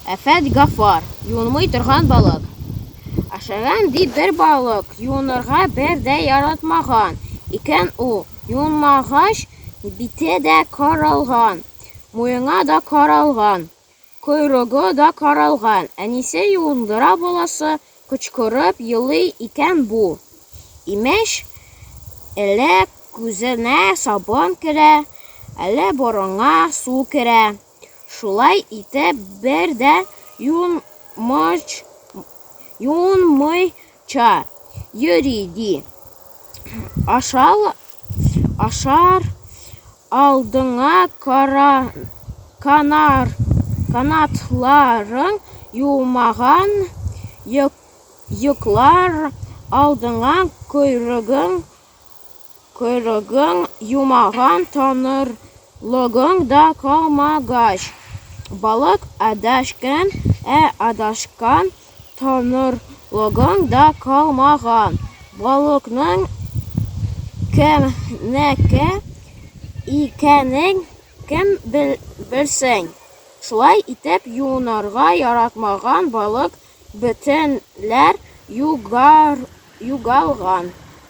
Әфәт Гафар, юынмый торган балык. Ашаган ди бер балык, юынырга бер дә яратмаган. Икән ул, юынмагач, бите дә каралган, муены да каралган. Койрыгы да каралган, әнисе юындыра баласы, кычкырып елый икән бу. Имеш, әле күзенә сабын керә, әле борынга су керә. Шулай итеп бер дә юынмыйча йөри, ди. Ашар Алдыңа кара, канар, канатларың юмаган, йоклар алдыңа койрыгың, койрыгың юмаган таныр лыгың да калмагач, балык адашкан, ә адашкан танырлыгың да калмаган. Балыкның кемнеке икәнен кем белсен? Шулай итеп, юынырга яратмаган балык бөтенләй югалган.